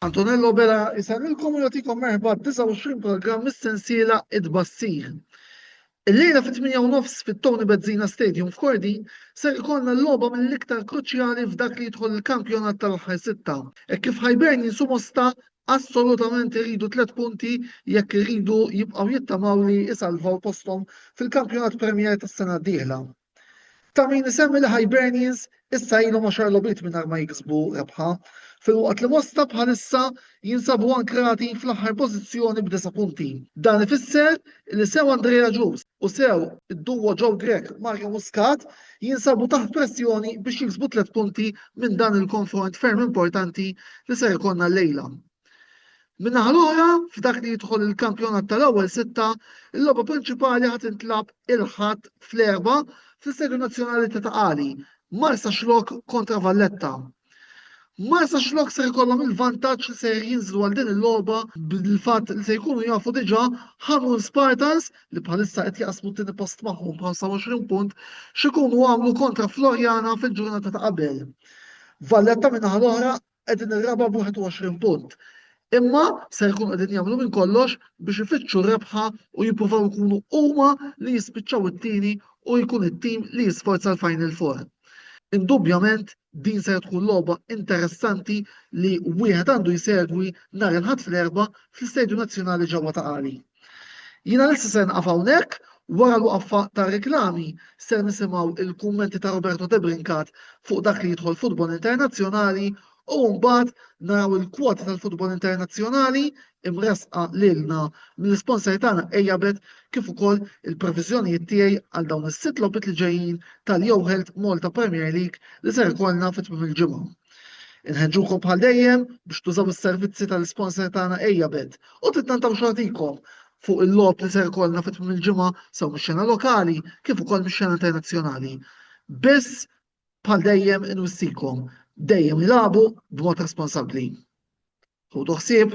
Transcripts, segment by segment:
Antonello Bela jisallilkom u jagħtikom merħba 29 programm mis-sensiela Id-Bassir. Illejla fit-8 nofs fit-Tony Bezzina Stadium f'Kordi ser ikollna l-logħba mill-iktar kruċjali f'dak li jidħol il-kampjonat tal-aħħar sitta. Hekk kif Hibernian jinsu mosta assolutament iridu tliet punti jekk iridu jibqgħu jittamaw li jsalvaw posthom fil-Kampjonat Premier tas-sena d-dieħla. Ta' min isemmi li Hibernians issa ilhom għaxar logħbiet mingħajr ma jiksbu rebħa, filwaqt li Mosta bħalissa jinsabu ankrati fl-aħħar pożizzjoni b'disa' punti. Dan ifisser li sew Andrea Ġus u sew id-duo Joe Grech, Mario Muscat jinsabu taħt pressjoni biex jiksbu tliet punti minn dan il-konfront ferm importanti li ser ikollna llejla. Min-naħa l-oħra, f'dak li jidħol il-kampjonat tal-ewwel sitta, il-logħba prinċipali ħad intlab il-Ħadd fl-Erbgħa fl-Istedju Nazzjonali ta' Taqali, Marsa Xlok kontra Valletta. Marsa Xlok se jkollhom il-vantaġġ li se jinżlu għal din il-logħba bil-fatt li se jkunu jafu diġà Ħamrun Spartans li bħalissa qed jaqsmu t-tieni post magħhom b'25 punt x'ikunu għamlu kontra Florjana fil-ġurnata ta' qabel. Valletta minn naħa l-oħra qegħdin ir-raba' b'21 punt. Imma se jkunu qegħdin jagħmlu minn kollox biex ifittxu r-rebħa u jippruvaw ikunu huma li jispiċċaw it-tieni u jkun it-tim li jisforza l-Final Four. Indubjament din ser tkun logħba interessanti li wieħed għandu jsegwi nhar il-Ħadd fl-Erbgħa fl-Istadium Nazzjonali ġewwa ta' Qali. Jiena lesti ser nqaf hawnhekk, wara l-waqfa tar-riklami ser nisimgħu il-kummenti ta' Roberto Debrincat fuq dak li jidħol futbol internazzjonali u mbagħad naraw il-kwoti tal-futbol internazzjonali imressqa lilna mill-isponsor tagħna Ejabet kif ukoll il-previżjonijiet tiegħi għal dawn is-sitt logħbiet li ġejjin tal-Yo Health Malta Premier League li ser ikollna fi tmiem il-ġimgħa. Inħeġġukom bħal dejjem biex tużaw is-servizzi tal-isponsor tagħna ejja bet u tittantaw xogħtikom fuq il-logħob li ser ikollna fit tmim il-ġimgħa sew mix-xena lokali kif ukoll mix-xena internazzjonali. Biss bħal dejjem inwissikom dejjem ilagħbu b'mod responsabbli. Ħudu ħsieb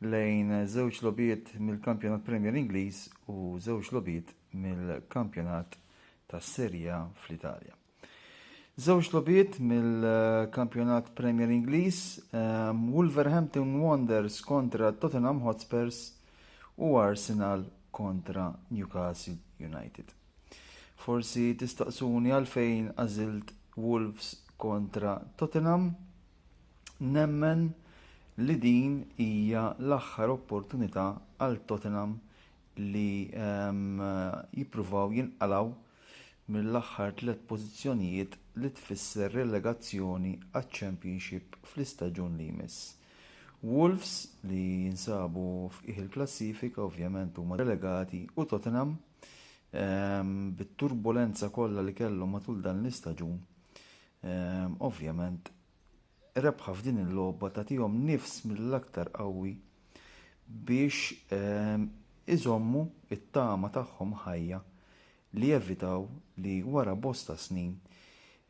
lejn żewġ logħbiet mill-Kampjonat Premier Ingliż u żewġ logħbiet mill-Kampjonat tas-Serie A fl-Italja. Żewġ logħbiet mill-Kampjonat Premier Ingliż, ehm, Wolverhampton Wanderers kontra Tottenham Hotspurs u Arsenal kontra Newcastle United. Forsi tistaqsuni għalfejn għażilt Wolves kontra Tottenham. Nemmen li din hija l-aħħar opportunità għal Tottenham li ehm, jippruvaw jinqalgħu mill-aħħar tliet pożizzjonijiet li tfisser relegazzjoni għaċ-Championship fl-istaġun li jmiss. Wolves li jinsabu f'qiegħ il-klassifika ovvjament huma relegati u Tottenham ehm, bit-turbulenza kollha li kellhom matul dan l-istaġun ehm, ovvjament rebħa f'din il-logħba tagħtihom nifs mill-aktar qawwi biex iżommu t-tama tagħhom ħajja li jevitaw li wara bosta snin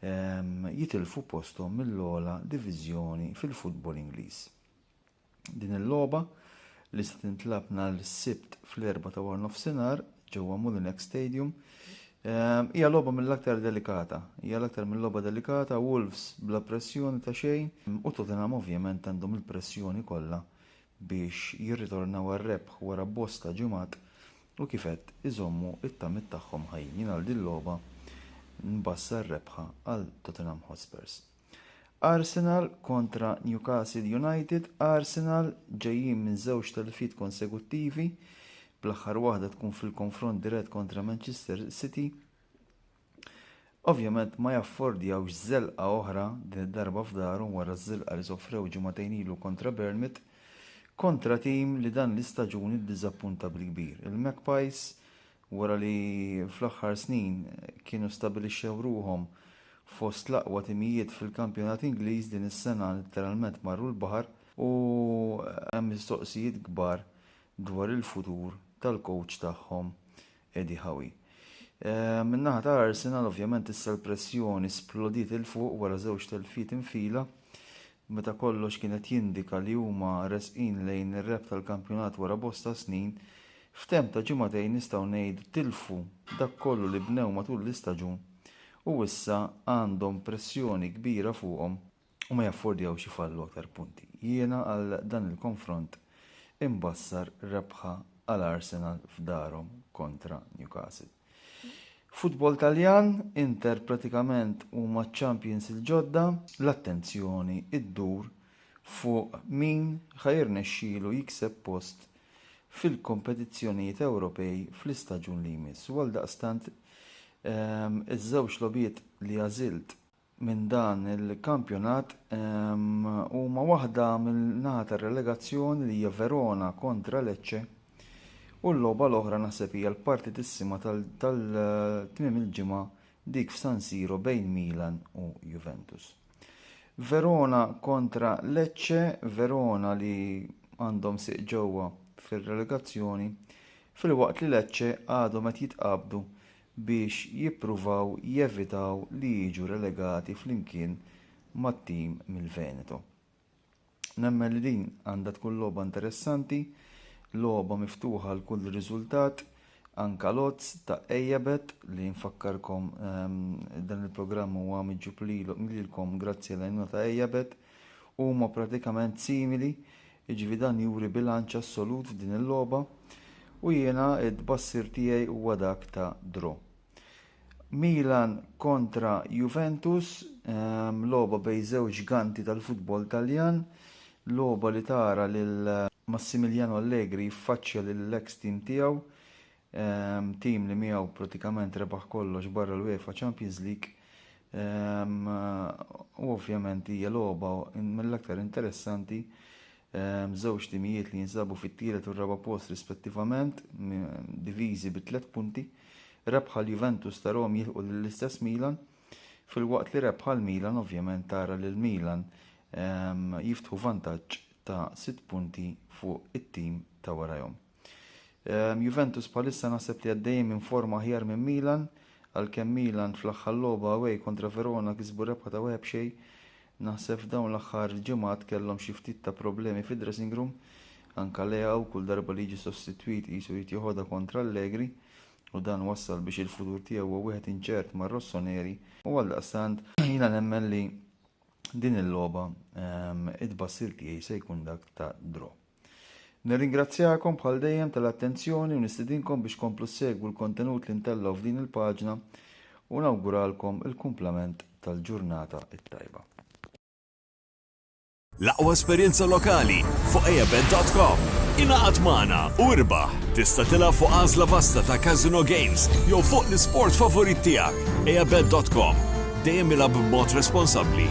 jitilfu posthom mill-ogħla diviżjoni fil-futbol Ingliż. Din il-logħba li se tintlab nhar is-Sibt fl-erba' ta' wara nofsinhar ġewwa Molinex Stadium ehm, hija logħba mill-aktar delikata. Hija l-aktar mill-logħba delikata, Wolves bla pressjoni ta' xejn u Tottenham ovvjament għandhom il-pressjoni kollha biex jirritornaw għar-rebħ wara bosta ġimgħat u kif qed iżommu t-tamiet tagħhom ħajjin. Jien għal din logħba nbassar rebħa għal Tottenham Hotspurs. Arsenal kontra Newcastle United, Arsenal ġejjin minn żewġ telfiet konseguttivi, bl-aħħar waħda tkun fil-konfront dirett kontra Manchester City. Ovvjament ma jaffordjawx żelqa oħra din id-darba f'darhom wara ż-żilqa li sofrew ġimagħtejn ilu kontra Bournemouth kontra tim li dan l-istaġun iddiżappunta bil-kbir. Il-Magpies Wara li fl-aħħar snin kienu stabilixxew ruħhom fost l-aqwa timijiet fil-kampjonat Ingliż din is-sena litteralment marru l-baħar u hemm mistoqsijiet kbar dwar il-futur tal-kowċ tagħhom Eddie Howie. Min-naħa ta' Arsenal ovvjament issa l-pressjoni splodiet 'il fuq wara żewġ telfiet infila meta kollox kien qed jindika li huma resqin lejn ir-rebħ tal-kampjonat wara bosta snin, f'temp ta' ġimagħtejn nistgħu ngħidu tilfu dak kollu li bnew matul l-istaġun u issa għandhom pressjoni kbira fuqhom u ma jaffordjawx ifallu aktar punti. Jiena għal dan il-konfront imbassar rebħa għal Arsenal f'darhom kontra Newcastle. Futbol Taljan, Inter pratikament huma ċ-champions il-ġodda. L-attenzjoni ddur fuq min ħa jirnexxilu jikseb post fil-kompetizzjonijiet Ewropej fl-istaġun li jmiss u għaldaqstant iż-żewġ logħbiet li għażilt, minn dan il-kampjonat huma waħda mill-naħa tar-relegazzjoni li hija Verona kontra Lecce u l-logħba l-oħra naħseb hija l-partitissima tal-tmiem il-ġimgħa dik f'San Siro bejn Milan u Juventus. Verona kontra Lecce, Verona li għandhom siq ġewwa fir-relegazzjoni, filwaqt li Lecce għadhom qed jitqabdu biex jippruvaw jevitaw li jiġu relegati flimkien mat-tim mill-Veneto. Nemmen li din għandha tkun logħba interessanti, logħba miftuħa għal kull riżultat, anka l-odds ta' Ejebet li nfakkarkom ehm, dan il-programm huwa miġġub lilkom grazzi għal għajnuna ta' Ejebet. huma pratikament simili, jiġifieri dan juri bilanċ assolut f'din il-logħba u jiena t-tbassir tiegħi huwa dak ta' draw. Milan kontra Juventus, ehm, logħba bejn żewġ ġganti tal-futbol Taljan, logħba li tara lil Massimiliano Allegri jiffaċċja lill-eks tim tiegħu Tim li miegħu pratikament rebaħ kollox barra l-UEFA Champions League u ovvjament hija logħba mill-aktar interessanti żewġ timijiet li jinsabu fit-tielet u r-raba' post rispettivament diviżi bi tliet punti rebħa l-Juventus ta' Rom jilħu lill-istess Milan filwaqt li rebħa l-Milan ovvjament tara lil Milan jiftħu vantaġġ ta' sitt punti fuq it-tim ta' warajhom. Ehm, Juventus bħalissa naħseb li għaddejjin minn forma aħjar minn Milan, għalkemm Milan fl-aħħar logħba away kontra Verona kisbu rebħa ta' wieħed xej. Naħseb f'dawn l-aħħar ġimgħat kellhom xi ftit ta' problemi fid-dressing room, anka Lea u kull darba li jiġi sostitwit qisu jrid joħodha kontra Allegri u dan wassal biex il-futur tiegħu huwa wieħed inċert mar Rossoneri u għal daqstant jiena nemmen li din il-logħba ehm, id-bassir tiegħi se jkun dak ta' draw. Nirringrazzjakom bħal dejjem tal-attenzjoni u nistidinkom biex tkomplu ssegwu l-kontenut li ntellgħu f'din il-paġna u nawguralkom il-kumplament tal-ġurnata t-tajba. L-aqwa esperjenza lokali fuq eabet.com. Ingħaqad magħna u irbaħ! Tista' tilgħab fuq għażla vasta ta' casino games jew fuq l-isport favorit tiegħek. Eabet.com, Dejjem ilgħab b'mod responsabbli.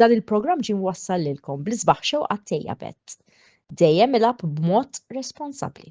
Dan il-programm ġie mwassal lilkom bl-isbaħ xewqat tejjeb għedt. Dejjem ilgħab b'mod responsabbli.